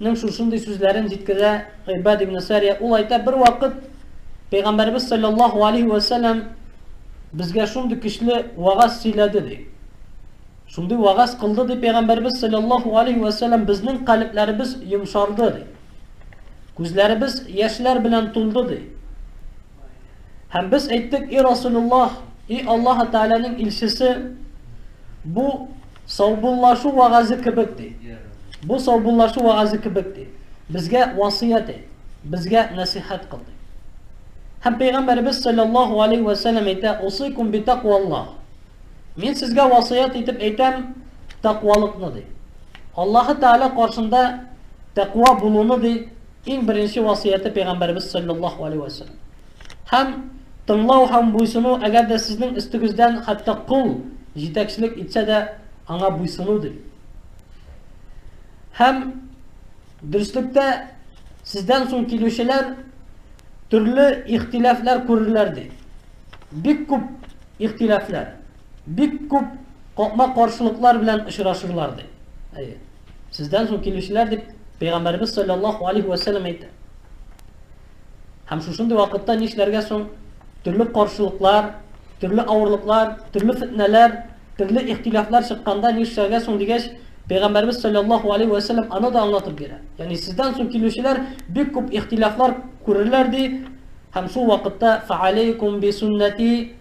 Нең шушындый сүзләрен җиткерә Гыйбад ибне Сәрия, ул әйтә, Бервакыт Пәйгамбәребез салләллаһу алейһи вә сәлләм безгә шундый көчле вәгазь сөйләде, ди. Шундый вәгазь кылды, ди Пәйгамбәребез салләллаһу алейһи вә сәлләм, безнең калебләребез йомшарды, ди. Күзләребез яшьләр белән тулды, ди. Һәм без әйттек, и Расулуллаһ, и Аллаһы Тәгаләнең илчесе, бу саубуллашу вәгазе кебек ди. Бу саубуллашу вәгазе кебек ди. Безгә васыят әйт, безгә нәсихәт кыл ди. Һәм пәйгамбәребез саллаллаһу алейхи ва саллям әйтә, "Усикум би тақваллаһ". Мин сезгә васыят итеп әйтәм, тақвалыкны ди. Аллаһы Тәгалә каршында тәкъва булуны ди, Иң беренче васыяте Пәйгамбәребез салләллаһу галәйһи вә сәлләм. Һәм, тыңлау һәм буйсыну, әгәр дә сезнең өстегездән хәтта кол җитәкчелек итсә дә, аңа буйсыну, ди. Һәм, дөреслектә, сездән соң килүчеләр төрле ихтилафлар күрерләр, ди. Бик күп ихтилафлар. бик күп капма-каршылыклар белән очрашырлар ди. Әйе. Сездән соң килүчеләр дип Пәйгамбәрбез саллаллаһу алейхи ва сәлләм әйтә. Һәм шушындый вакытта нишләргә соң? Төрле каршылыклар, төрле авырлыклар, төрле фитнәләр, төрле ихтилафлар чыкканда нишләргә соң дигәч, Пәйгамбәрбез саллаллаһу алейхи ва сәлләм аны да аңлатып бирә. Ягъни сездән соң килүчеләр бик күп ихтилафлар күрерләр ди, һәм шул вакытта фаалейкум би суннати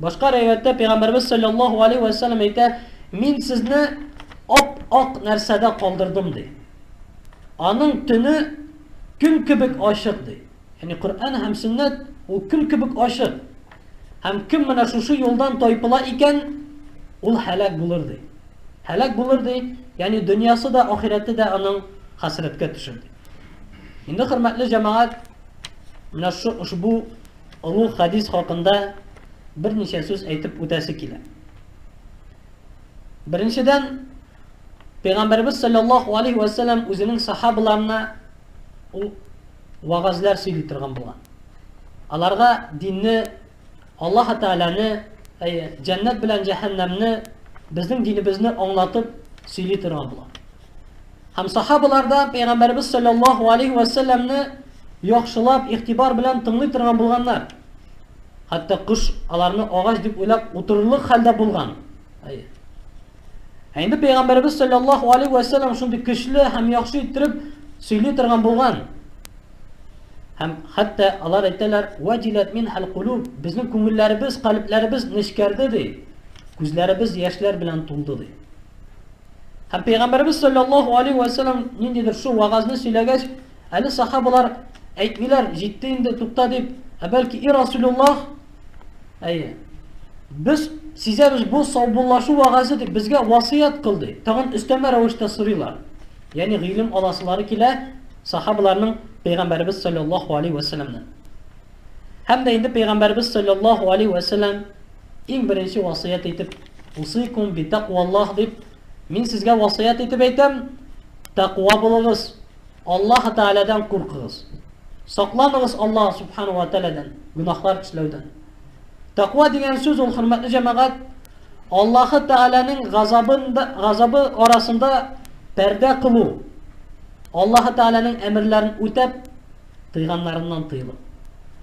Башка риваяттә Пәйгамбәрбез саллаллаһу алейһи вә сәлләм әйтә, мин сезне ап-ак нәрсәдә калдырдым ди. Аның төне көн кебек ачык ди. Яни Коръән һәм сөннәт ул көн кебек ачык. Һәм кем менә шушы юлдан тайпыла икән, ул һәлак булыр ди. Һәлак булыр ди, яни дөньясы да, ахирәте дә аның хәсрәткә төшер ди. Инде хөрмәтле җәмәгать, менә шу ошбу Олуг хәдис хакында берничә сүз әйтеп үтәсе килә. Беренчедән, Пәйгамбәрбез саллаллаху алейхи ва саллям үзенең сахабаларына ул вагазлар сөйли торган булган. Аларга динне, Аллаһ Тәгаләне, әйе, җәннәт белән җәһәннәмне, безнең динебезне аңлатып сөйли торган булган. Һәм сахабалар да Пәйгамбәребез саллаллаһу алейһи вә сәлләмне яхшылап, игътибар белән тыңлый торган булганнар. Хәтта кош аларны агач дип уйлап утырырлык хәлдә булган. Ә инде Пәйгамбәребез саллаллаһу алейһи вә сәлләм шундый көчле һәм яхшы иттереп сөйли торган булган. Һәм хәтта алар әйтәләр, "Вадилат мин хәл кулуб", безнең күңелләребез, калпләребез нечкәрде ди. Күзләребез яшьләр белән тулды ди. Һәм Пәйгамбәребез саллаллаһу алейһи вә сәлләм ниндидер шул вагазны сөйләгәч, әле сахабалар әйтмиләр, җитте инде, тукта дип, ә бәлки и Расулуллах, әйе, без сизәбез бу саубуллашу вагазы дип безгә васыят кыл ди. Тагын өстәмә рәвештә сорыйлар. Ягъни гыйлем аласылары килә сахабаларның Пәйгамбәребез саллаллаһу алейһи вә сәлләмнән. Һәм дә инде Пәйгамбәребез саллаллаһу алейһи вә сәлләм Иң беренче васыять итеп, усыйкум би тәкъваллаһ дип, мин сезгә васыять итеп әйтәм, тәкъва булыгыз, Аллаһ Тәгаләдән куркыгыз. Сакланыгыз Аллаһ Субхану ва Тәгаләдән, гөнаһлар эшләүдән. Тәкъва дигән сүз ул хөрмәтле җәмәгать, Аллаһ Тәгаләнең газабында, газабы арасында пәрдә кылу. Аллаһ Тәгаләнең әмерләрен үтәп, тыйганнарыннан тыелып.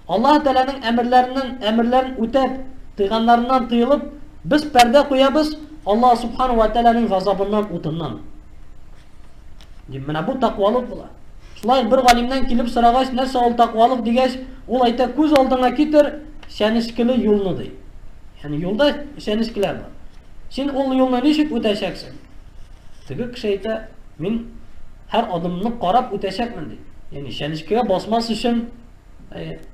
Аллаһы Тәгаләнең әмерләреннән, әмерләрен үтәп, тыйганнарыннан тыелып, без пәрдә куябыз Аллаһы Субхана вә Тәгаләнең газабыннан, утыннан. Дип, менә бу тәкъвалык була. Шулай ук бер галимнән килеп сорагач, нәрсә ул тәкъвалык дигәч, ул әйтә, күз алдыңа китер чәнечкеле юлны, ди. Ягъни юлда чәнечкеләр бар. Син ул юлны ничек үтәчәксең? Теге кеше әйтә, мин һәр адымны карап үтәчәкмен ди. Яни чәнечкегә басмас өчен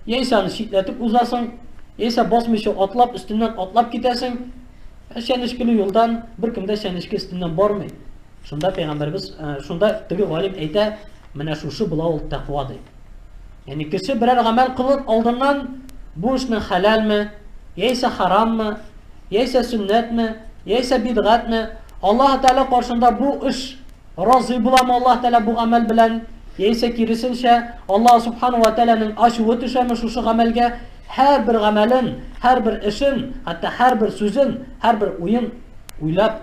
яисә аны читләтеп узасың, яисә басмыйча атлап өстеннән атлап китәсең. Чәнечкеле юлдан беркем дә чәнечке өстеннән бармый. Шунда пәйгамбәрбез, шунда теге галим әйтә, менә шушы була ул тәкъва ди. Яни кеше берәр гамәл кылып алдыннан бу эшнең хәләлме, яисә хараммы, яисә сөннәтме, яисә бидгатьме, Аллаһы Тәгалә каршында бу эш разый буламы Аллаһы Тәгалә бу гамәл белән, яисә киресенчә, Аллаһы Субхана вә Тәгаләнең ачуы төшәме шушы гамәлгә, һәрбер гамәлен, һәрбер эшен, хәтта һәрбер сүзен, һәрбер уен уйлап,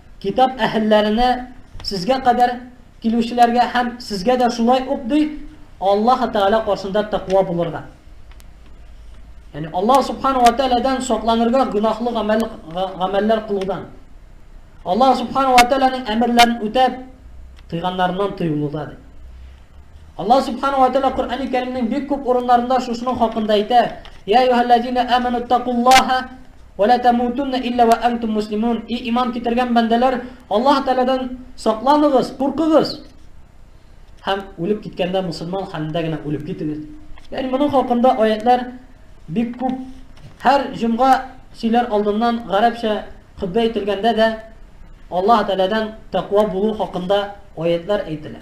Китап әһелләренә, сезгә кадәр килүчеләргә һәм сезгә дә шулай ук, ди, Аллаһы Тәгалә каршында тәкъва булырга. Ягъни Аллаһ Субхану ва Тәгаләдән сакланырга гөнаһлы гамәл гамәлләр кылудан. Аллаһ Субхану ва Тәгаләнең әмерләрен үтәп, тыйганнарыннан тыюлыда, ди. Аллаһ Субхану ва Тәала Коръәни Кәримнең бик күп урыннарында шушының хакында әйтә: "Я юһәлләзина аману тәкуллаһа ва ла тамутунна илла ва антум муслимун". И иман китергән бәндәләр, Аллаһ Тәаләдән сакланыгыз, куркыгыз! Һәм үлеп киткәндә мусульман хәлендә генә үлеп китегез. Ягъни моның хакында аятьләр бик күп. Һәр җомга сөйләр алдыннан гарәпчә хөтбә әйтелгәндә дә Аллаһ Тәаләдән тәкъва булу хакында аятьләр әйтелә.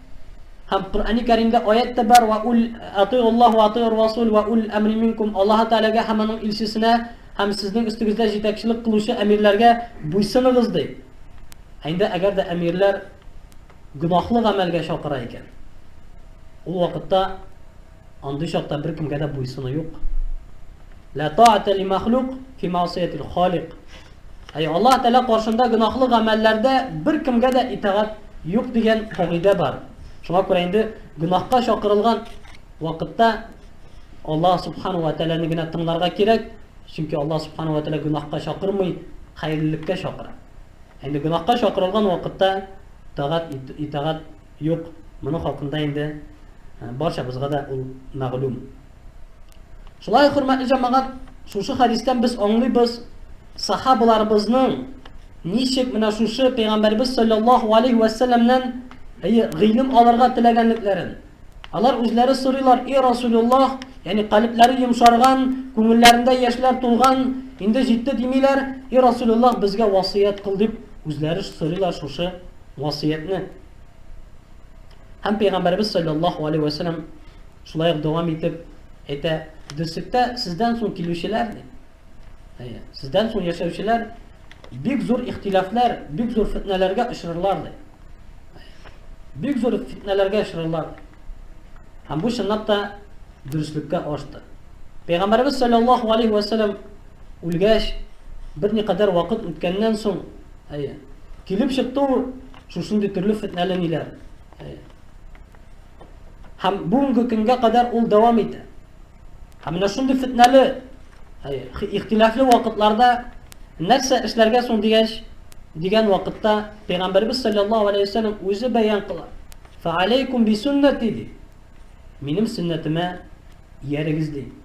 Һәм Коръәни Кәримдә аять тә бар, Ва уль атыйгу Аллаһ ва атыйгур расул ва уль әмри минкум, Аллаһы Тәгаләгә һәм Аның илчесенә һәм сезнең өстегездә җитәкчелек кылучы әмирләргә буйсыныгыз, ди. Ә инде әгәр дә әмирләр гөнаһлы гамәлгә чакыра икән, ул вакытта, Андый чакта беркемгә дә буйсыну юк. Ла таата ли махлук фи маасиятил халик. Әй Аллаһ Тәгалә каршында гөнаһлы гамәлләрдә беркемгә дә итагать юк дигән кагыйдә бар. Шуңа күрә инде гөнаһка чакырылган вакытта Аллаһ Субхану ва Тәгаләне генә тыңларга кирәк, чөнки Аллаһ Субхану ва Тәгалә гөнаһка чакырмый, хәерлелеккә чакыра. Инде гөнаһка чакырылган вакытта итагать итагать Юк, моның хакында инде барчабызга да ул мәгълүм. Шулай ук, хөрмәтле җәмәгать, шушы хәдистән без аңлыйбыз, сахабаларыбызның ничек менә шушы пәйгамбәрбез саллаллаһу алейхи ва сәлламнән гыйлем алырга теләгәнлекләрен. Алар үзләре сорыйлар, "И Расулуллах, ягъни калебләре йомшарган, күңелләрендә яшьләр тулган, инде җитте димиләр, и Расулуллах, безгә васыять кыл" дип үзләре сорыйлар шушы васыятьне һәм Пәйгамбәребез саллаллаһу алейһи вә сәлләм шулай ук дәвам итеп әйтә, дөслектә сездән соң килүчеләр, әйе, сездән соң яшәүчеләр бик зур ихтилафлар, бик зур фитнәләргә очрарлар ди. Бик зур фитнәләргә очрарлар. Һәм бу чынлап та дөреслеккә ашты. Пәйгамбәребез саллаллаһу алейһи вә сәлләм үлгәч, берникадәр вакыт үткәннән соң Әйе. Килеп чыкты ул шушындый төрле фетнәле ниләр. Әйе. Һәм бүгенге көнгә кадәр ул дәвам итә. Һәм менә шундый фетнәле, әйе, ихтилафлы вакытларда нәрсә эшләргә соң дигәч, дигән вакытта Пәйгамбәрбез саллаллаһу алейхи ва сәлләм үзе бәян кыла. Фа алейкум би суннати ди. Минем сөннәтемә иярегез ди.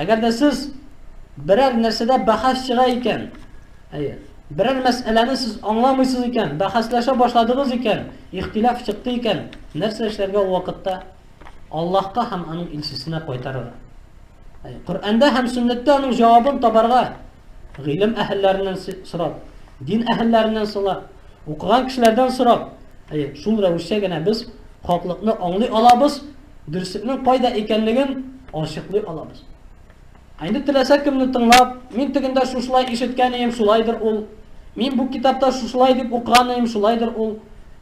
Әгәр дә сез берәр нәрсәдә бәхәс чыга икән, әйе, берәр мәсьәләне сез аңламыйсыз икән, бәхәсләшә башладыгыз икән, ихтилаф чыкты икән, нәрсә эшләргә ул вакытта? Аллаһка һәм аның илчесенә кайтарырга. Коръәндә һәм сөннәттә аның җавабын табарга, Гыйлем әһелләреннән сорап, дин әһелләреннән сорап, укыган кешеләрдән сорап, әйе, шул рәвешчә генә без хаклыкны аңлый алабыз, дөреслекнең кайда икәнлеген ачыклый алабыз. Ә инде теләсә кемне тыңлап, мин тегендә шушылай ишеткән идем, шулайдыр ул. Мин бу китапта шушылай дип укыган идем, шулайдыр ул.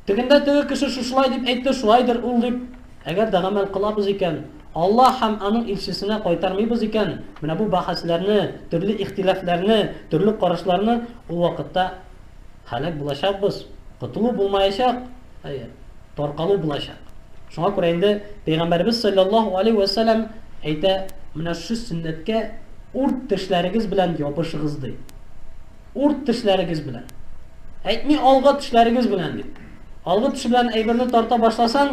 Тегендә теге кеше шушылай дип әйтте, шулайдыр ул дип, әгәр дә гамәл кылабыз икән, Алла һәм аның илчесенә кайтармыйбыз икән, менә бу бәхәсләрне, төрле ихтилафларны, төрле карашларны ул вакытта һәлак булачакбыз. Котылу булмаячак, әйе, таркалу булачак. Шуңа күрә инде Пәйгамбәребез салләллаһу алейһи вә сәлам әйтә, Менә шушы сөннәткә урт тешләрегез белән ябышыгыз, ди. Урт тешләрегез белән. Әйтми, алгы тешләрегез белән, дип. Алгы теше белән әйберне тарта башласаң,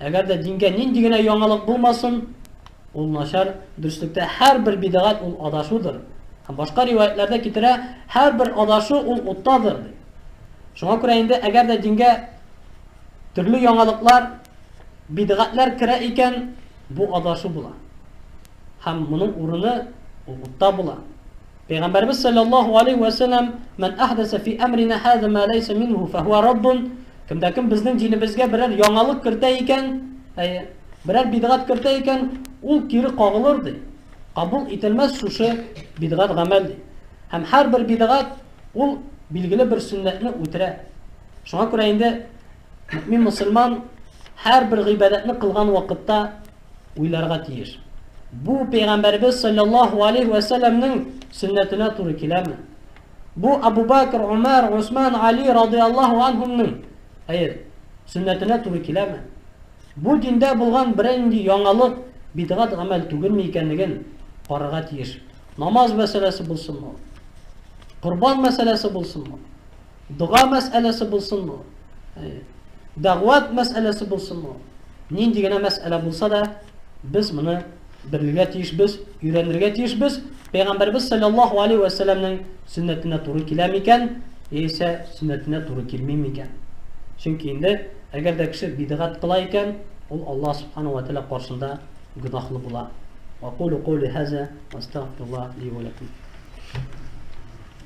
Әгәр дә дингә нинди генә яңалык булмасын, ул начар, дөреслектә һәрбер бидәгать ул адашудыр. Һәм башка риваятьләрдә китерә, һәрбер адашу ул уттадыр, ди. Шуңа күрә инде әгәр дә дингә төрле яңалыклар, бидәгатьләр керә икән, бу адашу була. Һәм моның урыны ул утта була. Пәйгамбәребез салләллаһу галәйһи вә сәлләм, Мән әһдәсә фи әмринә һаза мә ләйсә минһу фәһүә раддун, Кем дә кем безнең динебезгә берәр яңалык кертә икән, әйе, берәр бидгать кертә икән, ул кире кагылыр, ди. Кабул ителмәс шушы бидгать гамәл, ди. Һәм һәрбер бидгать ул билгеле бер сөннәтне үтерә. Шуңа күрә инде мөэмин мөселман һәрбер гыйбадәтне кылган вакытта, уйларга тиеш. Бу пәйгамбәрбез саллаллаһу алейһи вә сәлләмнең сөннәтенә туры киләме? Бу Абу Бакр, Умар, Усман, Али радиаллаһу анһумның, хәер, сөннәтенә туры киләме? Бу диндә булган берәр нинди яңалык, бидгат гамәл түгелме икәнлеген карарга тиеш. Намаз мәсьәләсе булсынмы? Корбан мәсьәләсе булсынмы? Дога мәсьәләсе булсынмы, дәгъват мәсьәләсе булсынмы, нинди генә мәсьәлә булса да, без моны белергә тиешбез, өйрәнергә тиешбез. Пәйгамбәрбез саллаллаһу алейһи ва сәлләмнең сөннәтенә туры килә микән, яисә сөннәтенә туры килми микән? Чөнки инде әгәр дә кеше бидгат кыла икән, ул Аллаһ субхана ва тәала каршында гөнаһлы була. Ва кулу кули хаза ва астагфируллаһ ли ва лакум.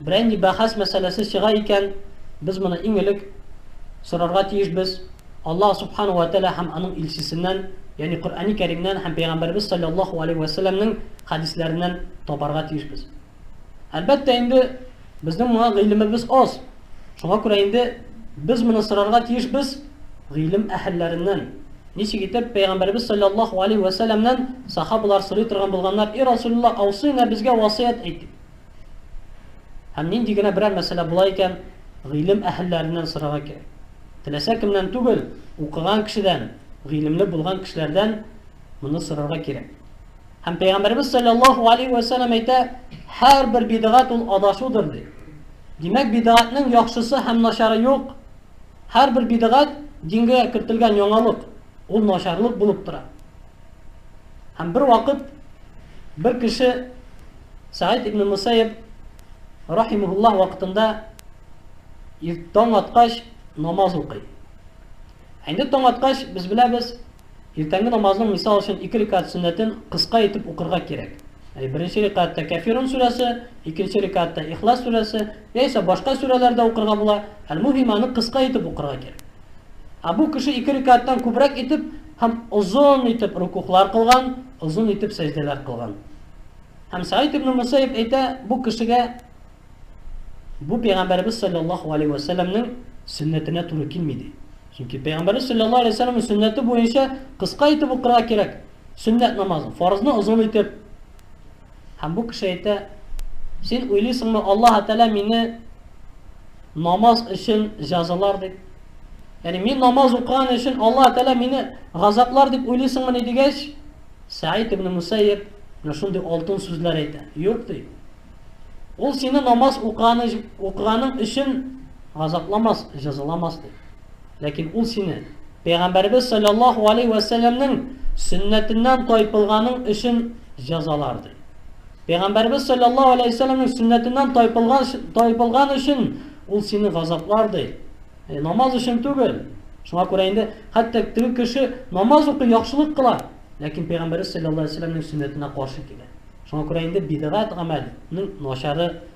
Бренди бәхәс мәсьәләсе чыга икән, без моны иң элек сорарга тиешбез, Аллаһ Субхана уә Тәгалә һәм Аның Илчесеннән, ягъни Коръәни Кәримнән һәм Пәйгамбәребез салләллаһу аләйһи вә сәлләмнең хәдисләреннән табарга тиешбез. Әлбәттә инде, безнең моңа гыйлемебез аз, шуңа күрә инде без моны сорарга тиешбез гыйлем әһелләреннән. Ничек итеп Пәйгамбәребез салләллаһу аләйһи вә сәлләмнән сахабалар сорый торган булганнар, И Расулллаһ, аусыйнә, безгә васыять әйт, дип. Һәм нинди генә берәр мәсьәлә була икән, гыйлем әһелләреннән сорарга кирәк. Теләсә кемнән түгел, укыган кешедән, гыйлемле булган кешеләрдән моны сорарга кирәк. Һәм Пәйгамбәребез саллаллаһу алейхи ва сәлләм әйтә, һәрбер бидгат ул адашудыр ди. Димәк, бидгатның яхшысы һәм начары юк. Һәрбер бидгат дингә кертелгән яңалык. Ул начарлык булып тора. Һәм бер вакыт бер кеше Саид ибн Мусаиб рахимуллаһ вакытында иртән аткач намаз укый. Әйдә таң аткач без беләбез, иртәнге намазның мисал өчен ике рикат сөннәтен кыска итеп укырга кирәк. Әй беренче рикатта Кафирун сүрәсе, икенче рикатта Ихлас сүрәсе, Яисә башка сүрәләр дә укырга була, әл-муһим аны кыска итеп укырга кирәк. Ә бу кеше ике рикәгатьтән күбрәк итеп һәм озын итеп рөкүгълар кылган, озын итеп сәҗдәләр кылган. Һәм Сәгыйд ибн Мөсәйиб әйтә, бу кешегә бу Пәйгамбәребез салләллаһу галәйһи вә сәлләмнең сөннәтенә туры килми ди. Чөнки Пәйгамбәребез салләллаһу галәйһи вә сәлләмнең сөннәте буенча кыска итеп укырга кирәк, сөннәт намазы, фарызны озын итеп, Һәм бу кеше әйтә, Син уйлыйсыңмы, Аллаһы Тәгалә мине намаз өчен җәзалар дип? Ягъни мин намаз укыган өчен Аллаһы Тәгалә мине газаплар дип уйлыйсыңмыни дигәч, Сәид ибн Мусәйиб менә шундый алтын сүзләр әйтә. Юк ди. Ул сине намаз укыганың өчен газапламас, җәзаламас ди. Ләкин ул сине Пәйгамбәребез салләллаһу галәйһи вә сәлләмнең сөннәтеннән тайпылганың өчен җәзалар, ди. Пәйгамбәребез салләллаһу галәйһи вә сәлләмнең сөннәтеннән тайпылган, тайпылган өчен ул сине газаплар, ди. Яни намаз өчен түгел. Шуңа күрә инде хәтта теге кеше намаз укый, яхшылык кыла, ләкин Пәйгамбәребез салләллаһу галәйһи вә сәлләмнең сөннәтенә каршы килә. Шуңа күрә инде бидгать гамәлнең начары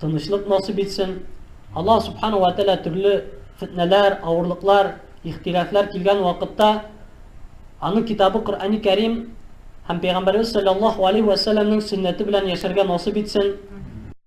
Тынычлык насыйп итсен. Аллаһ Субхана ва Тәлә төрле фетнәләр, авырлыклар, ихтилафлар килгән вакытта аның китабы Коръәни Кәрим һәм Пәйгамбәребез саллаллаһу алейһи вә сәлләмнең сөннәте белән яшәргә насыйп итсен.